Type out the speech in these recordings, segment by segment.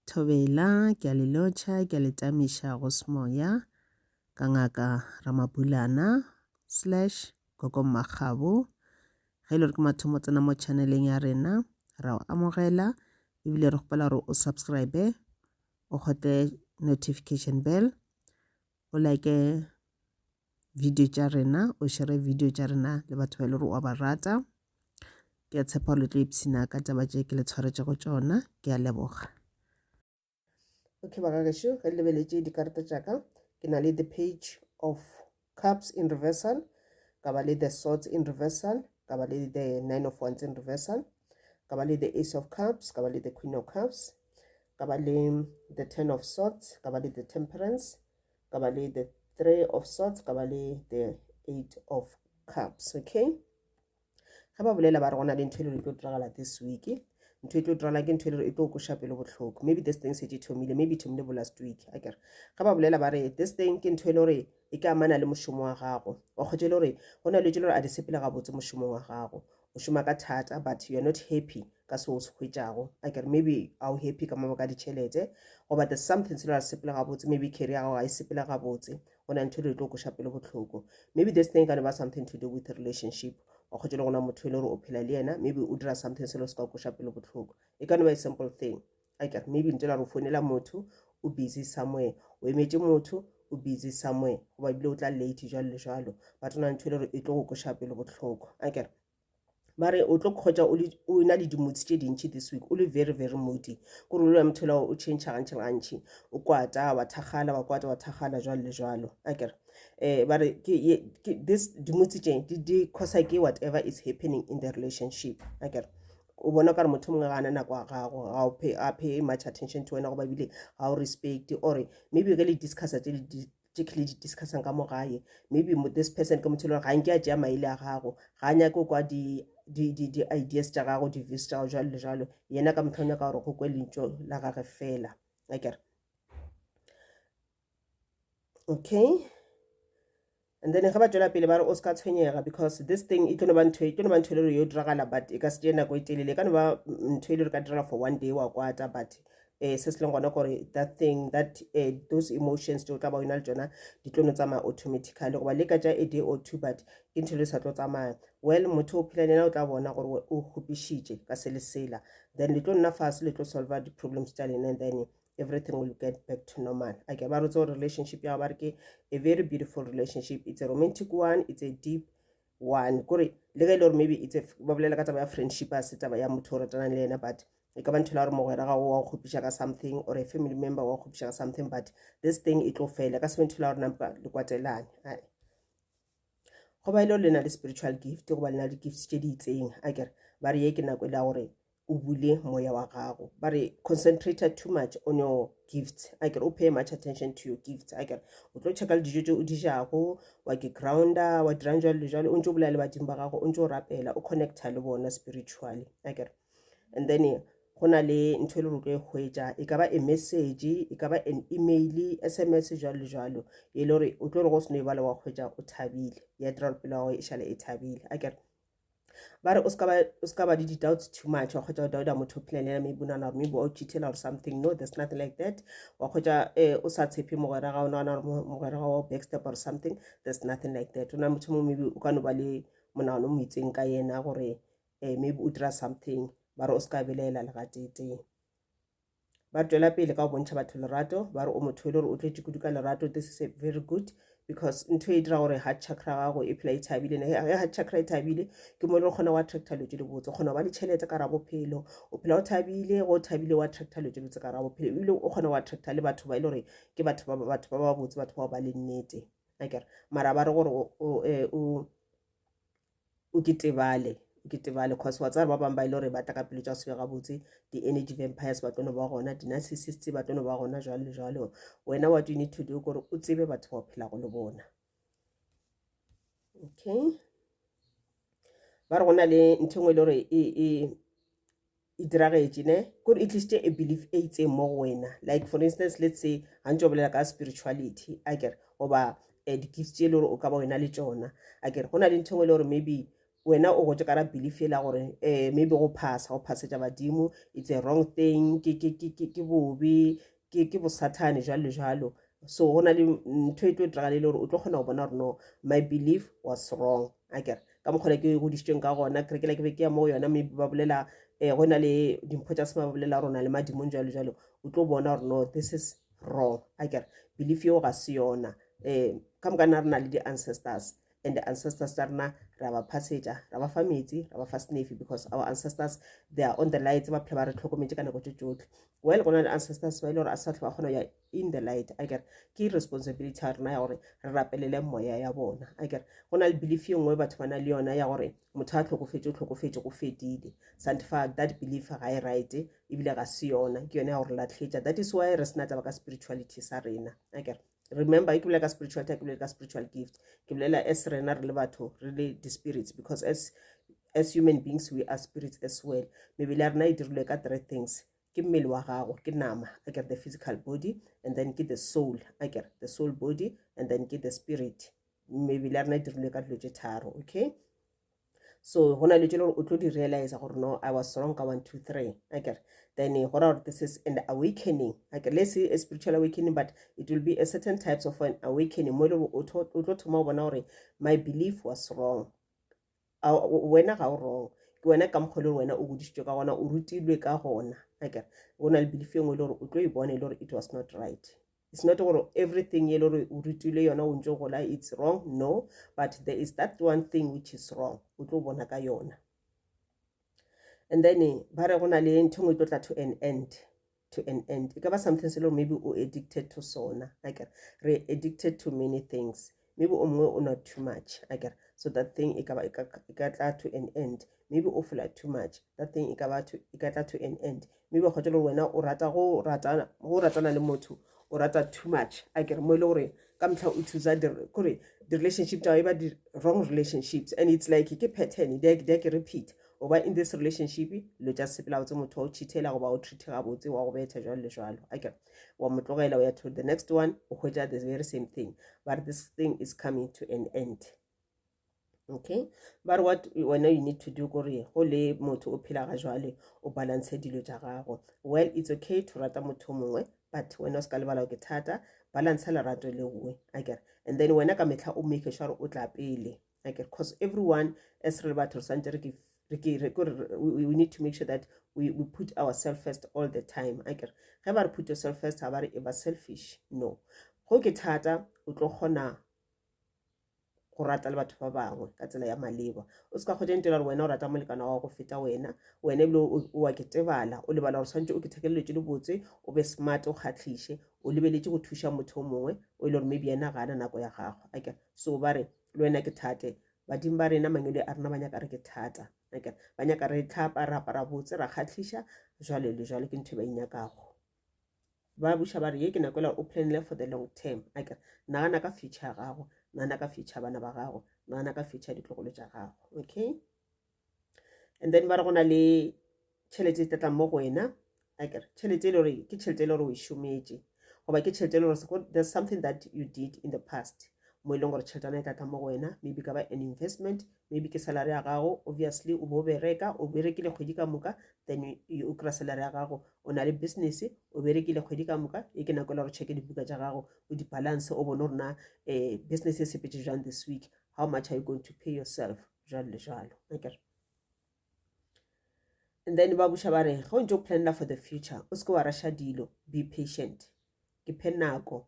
Thobela, ke a le lotšha, ke a le tamiša go semoya, ka Ngaka Ramabulana slash Gogo Mmakgabo. Ge e le gore ke mathomo tsena mo channeleng ya rena, ra o amogela ebile re kgopela gore o subscribe o kgotle notification bell o like video tša rena o šere video tša rena le batho ba e le gore wa ba rata ke a tshepa le tlo ipshina ka taba tše ke le tshwaretšego tšona ke a leboga okay bagagešo ge le lebeletše dikarata tša ka ke na le the page of cups in reversal ka ba le the swords in reversal ka ba le the nine of wands in reversal ka ba le the ace of cups ka ba le the queen of cups ka ba le the ten of swords ka ba le the temperance ka ba le the three of swords ka ba le the eight of cups okay ga ba bolela ba re gona le ntho e le e tlo diragala this week ntho e tlo diragala ke ntho e le e tlo koša pelo botlhoko maybe this thing setse thomile maybe thomile bo last week a kere ga ba bolela ba re this thing ke ntho e le gore e ka amana le mošomo wa gago wa kgotsa e le gore go na le tse le gore a di sepele gabotse mošomong wa gago o šoma ka thata but you're not happy ka se o se hwetšago a kere maybe a o happy ka mabaka a ditšhelete goba there's something se le a le sepela gabotse maybe carry ya gago ga e sepela gabotse go na ntho e le tlo koša pele botlhoko maybe this thing ka ne ba something to do with relationship wa kgotse le gona motho e le gore o phela le yena maybe o dira something selo se ka koša pele botlhoko e ka no ba a simple thing like maybe nto la re o founela motho o busy somewhere o emetše motho o busy somewhere goba ebile o tla late jalo le jalo but o na ntho e le gore e tlo go koša pele botlhokwa a kere mare o tlo kgotsa o na le dimotsi tše dintšhi this week o le very very modi kore o lwa motho la o change gantšhi le gantšhi o kwata wa thakgala wa kwata wa thakgala jwalo le jwalo a kere um ba re this dimotsi tše di kgosa ke whatever is happening in the relationship a kere o bona ka re motho mongwe ga ana nako ya gago ga o pay a pay much attention to wena go ba bile ga o respect or maybe ge le discussa tse tše ke le di discussang ka mo gae maybe this person ke motho e le gore ga nke a tšea maele a gago ga a nyake kwa di-ideas tša gago di-views tša gago jalo le jalo yena ka motlho nyaka gore go kwe lentso la gage fela akere okay and then ge ba tšwela pele ba re o se ka tshwenyega because this thing e tlono ba ntho e tlono ba ntho e le gore yo diragala but e ka se tee nako e telele e ka no ba ntho e le gore ka direla for one day wa kwata but um se se leng gona gore that thing that uh, those emotions tšeo tla ba yona le tsona di tlono tsamaya automatically goba le ka tša a day or two but ke ntho e le sa tlo tsamaya well motho o phela lena o tla bona gore o kgopišitše ka se le sela then le tlo nna fase le tlo solva di-problems tša lena then everything will get back to normal a ke ba re tso relationship ya ba re ke a very beautiful relationship it's a romantic one it's a deep one kore le ge e le gore maybe it's a ba bolela ka taba ya friendship a se taba ya motho o ratanang le yena but e ka ba ntho la gore mogwera gago wa go kgopiša ka something or a family member wa go kgopiša ka something but this thing e tlo fela ka sebe ntho la gore nampa le kwatelane go ba e le gore le na le spiritual gift go ba le na le gifts tše di itseng a kere ba re ye ke nako e le gore o bule moya wa gago ba re concentrate too much on your gifts a kere o pay much attention to your gifts a kere o tlo checka le dijo tse o di jago wa ke grounda wa dirang jalo le jalo o ntse o bolela le badimo ba gago o ntse o rapela o connecta le bona spiritually a kere and then go na le ntho e le rotlo e hwetša e ka ba e message e ka ba an email sms jalo le jalo e le gore o tlo re go seno e bala wa hwetša o thabile ya dira gore pelo ya gago e šale e thabile a kere ba re o se ka ba le di-doubts too much wa kgwetsa go dauda motho plan ena maybe nana gore maybe o cheatela or something no there's nothing like that wa kgwetsa um eh, o sa tshepe mogwera ga o nagana gore mogwera ga wa backstep or something there's nothing like that o na motho mongwe maybe o ka no ba le monagano mo itseng ka yena gore um maybe o dira something mara o se ka belaela legateetee ba tswela pele ka go bontšha batho lerato ba re o motho e le gore o tletse kudu ka lerato this is a very good because ntho e dira gore heart chakra gago e phela e thabile ne ya heart chakra e thabile ke mo e leng kgona wa attracta lo tse di botse kgona ba le tšhelete ka ra bophelo o phela o thabile go thabile wa attracta lo tse botse ka ra bophelo ebile o kgona wa attracta le batho ba e le gore ke batho ba batho ba ba botse batho ba ba le nnete akere mara ba re gore o e, o ke tebale o ke tebale cause wa tsaya ba bangwe ba ile e gore ba tla ka pelo tša sebe gabotse di-energy vampires ba tlono ba gona di-narcissist ba tlono ba gona jalo le jalo wena what you need to do kore o tsebe batho ba o phelago le bona okay ba re go na le ntho e nngwe e le gore e, e, e diragetše ne kore e tlišitše a belief e itseng mo go wena like for instance let's say ga ntse o bolela ka spirituality a kere goba um eh, di-gifts tse e le gore o ka ba wena le tsona a kere go na le ntho e le gore maybe wena o gotse kara belief e la gore um maybe go phasa go phasetša badimo it's a wrong thing ke bobe ke ke bosathane jalo le jalo so go na le ntho e tlo diragale le gore o tlo kgona go bona gore no my belief was wrong a kere ka mokgona ke godisitsweng ka gona kerekela ke be ke ya mo go yona maybe ba bolela um eh, go na le dimpho tsa se ba bolela gore o na le madimong jalo jalo o tlo bona gore no this is wrong a kere belief yeo ga se yona um ka moka na re na le di-ancestors and the ancestors tsa rena ra ba phasetša ra ba fa metsi ra ba fa snafe because our ancestors they are on the light ba phela ba re tlhokometse ka nako tše tsotlhe well gona le ancestors ba ile gore a sa tlho ba kgona ya in the light a kere ke responsibility ya rena ya gore re rapelele moya ya bona a kere go na le belief ye nngwe batho ba na le yona ya gore motho a tlhokofetse o tlhokofetse go fedile santifa that belief ga e right ebile ga se yona ke yone ya gore latlhetša that is why re sena taba ka spirituality sa rena a kere remember ke bolela ka spiritual ke bolela ka spiritual gift ke bolela as rena re le batho re le di-spirits because as as human beings we are spirits as well mebele ya rena e dirilwe ka three things ke mmele wa gago ke nama a kere the physical body and then ke the soul a kere the soul body and then ke the spirit mebele ya rena e dirilwe ka dilo tše tharo okay so go na le tšelo gore o tlo di realize gore no i was wrong ka one two three a kere then go ra gore this is an awakening a kere le se a spiritual awakening but it will be a certain types of an awakening mo e le gore o tlo thoma go bona gore my belief was wrong wena ga o wrong ke wena ka mokgwa le gore wena o godisitswe ka gona o rutilwe ka gona a kere o na le belief e nngwe e le gore o tlo e bona e le gore it was not right It's not gore everything ye le gore o rutilwe yona o ntse gola it's wrong no but there is that one thing which is wrong o tlo bona ka yona and then eh, ba re go na le ntho ngwe e tlo tla to an end to an end e ka ba something se le gore maybe o addicted to sona akere re addicted to many things maybe o mongwe o nwa too much akere so that thing e kaba e ka tla to an end maybe o fola too much that thing e kaba e ka tla to an end maybe o kgotse le gore wena o rata go ratana le motho o rata too much akere mo e le gore ka motlha o thusa kore di-relationship tsa e ba di-wrong relationships and it's like ke pattern di a ke repeat o ba in this relationship lo tsa sepela o tse motho wa o cheatela goba o treat gabotse wa go betha jalo le jalo akere wa mo tlogela o ya to the next one o hwetša the very same thing but this thing is coming to an end okay ba re what wena you need to do kore go le motho o phela ga jwale o balance dilo tša gago well it's okay to rata motho mongwe but wena o se ka lebala ke thata balance lerato le nngwe a kere and then wena ka metlha o make sure o tla pele like because everyone as re le batho re swantse re ke we need to make sure that we, we put ourselves first all the time a kere ge ba re put yourself first ga ba re e ba selfish no go ke thata o tlo kgona go rata le batho ba bangwe ka tsela ya maleba o se ka kgotsa ntela gore wena o rata molekana wa go feta wena wena ebile o wa ke tebala o lebala gore tshwanetse o ke thekeleletse le botse o be smart o kgatlhiše o lebeletse go thuša motho o mongwe o e le gore maybe yena ga ana nako ya gagwe a kere so ba re le wena ke thate badimo ba rena mangwele a rena ba nyaka re ke thata ba nyaka re tlhapa re apara botse ra kgatlhiša jalo le jalo ke ntho e ba inyakago ba buša ba re ye ke nako ela o planile for the long term ake nagana ka future ya gago nagana ka future bana ba gago nagana ka future ditlogolo tša gago okay and then ba re go na le tšhelete e tlatlang mo go wena akere tšhelete e le gore ke tšhelete e le gore o e šometše goba ke tšhelete e le gore there's something that you did in the past mo e leng gore tšheletana e tlatla mo go wena maybe ka ba an investment maybe ke salary ya gago obviously o bo o bereka o berekile kgwedi ka moka then o kry-a salary ya gago o na le business o berekile kgwedi ka moka e ke nako e le gore checke dibuka tša gago o di-balance o bone gore na um business e sepetse jang this week how much are you going to pay yourself jalo le jalo akere and then ba buša ba re ge o ntse o planela for the future o seke wa rasha dilo be patient ke phe nako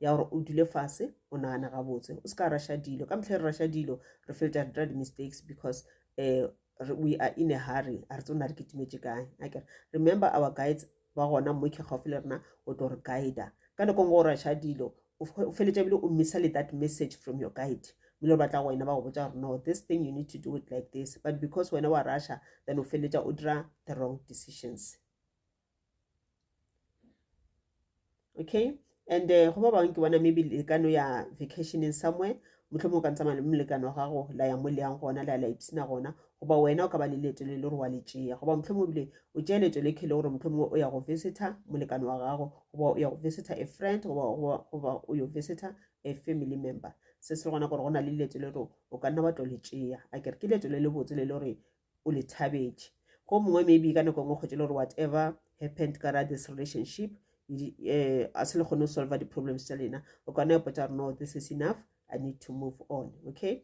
ya gore o dule fase o nagana gabotse o seka rasha dilo ka motlhe re rasha dilo re fetsa re dira di-mistakes because um we are in a hurry a re tse o na re ketimetše kae akere remember our guides ba gona mmo ke gaufi le rena o tlo re guida ka nako ngo o rasha dilo o feletša bile o missa le that message from your guide bile o batla go wena ba go botsa gore no this thing you need to do it like this but because wena wa rasha then o feletša o dira the wrong decisions okay and uh, go ba bangwe ke bona maybe le ka no ya vacationing somewhere motlho mo o ka ntsamaya le molekano wa gago la ya mo le yang gona la la ipsina gona goba wena o ka ba le leeto le le gore wa le tšea goba motlho mo bile o tšea leeto le khele gore motlho mongwe o ya go visitor molekano wa gago goba o ya go visitor a friend goba o yo visitor a family member se se gona gore go na le leeto le gore o ka nna wa tlo le tšea a kere ke leeto le le botse le le gore o le thabetše go mongwe maybe ka nako e nngwe kgwetše le gore whatever happened ka ra this relationship um a se le kgone go solve di-problems tša lena o kana ya potsa gore no this is enough i need to move on okay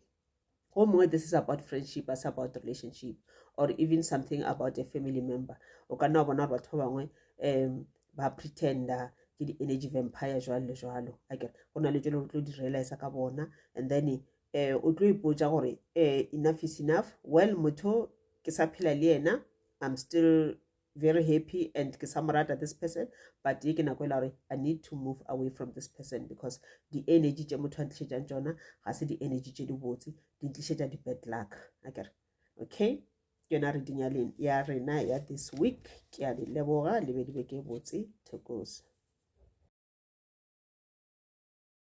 go mongwe this is about friendship as about relationship or even something about a family member o kana wa bona gore batho ba bangwe um ba pretender ke di-energy vampire jwalo le jwalo akere go na le tšele go tlo di-realisa ka bona and then um o tlo ipotsa gore um enough is enough well motho ke sa phela le yena i'm still very happy and ke sa mo rata this person but ye ke nako e la gore i need to move away from this person because di-energy tše motho a ntlišetsang tsona ga se di-energy tše di botse di ntlišetsa di-bad luck a kere okay ke yona reading ya, ya rena ya this week ke a le leboga le be di be ke botse thekosa